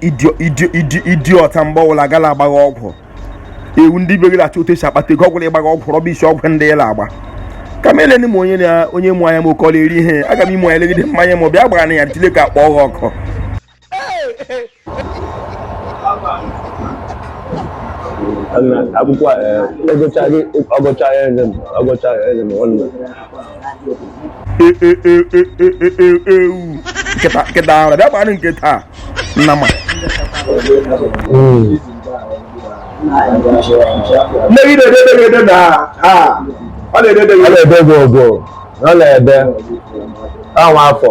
idiot mgbe ọbụla ga la-agba ọgwụ ewu ndị be gị la-achọ otu esi akpata ego ọgwụla ịgba ọgwụ rubbish ọgwụ ndị ị la-agba ka m eleni m onye na onye mụ anya m oke ọ la-eri ihe aga m ime anya legide m anya ma ọ bịa gbara na ya ntile ka akpọ ọgwụ ọkụ akwụkwọ ọgụcha gị ọgụcha ya eze m ọgụcha ya eze m nwanne ewu nkịta ahụ bịa gbanụ nke taa nna ma nne gị na-edede gị ede na a ọ na-edede gị ọ na-ede gị ogwo ọ na-ede anwa afọ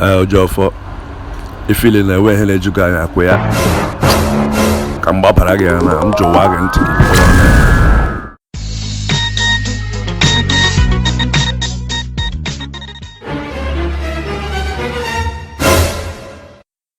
Ejiofor ị feel na e nwe ihe na-eju gị anya akwa ya ka m gbapara gị ya na m jụwa gị ntị gị bụrụ ọnụ ya.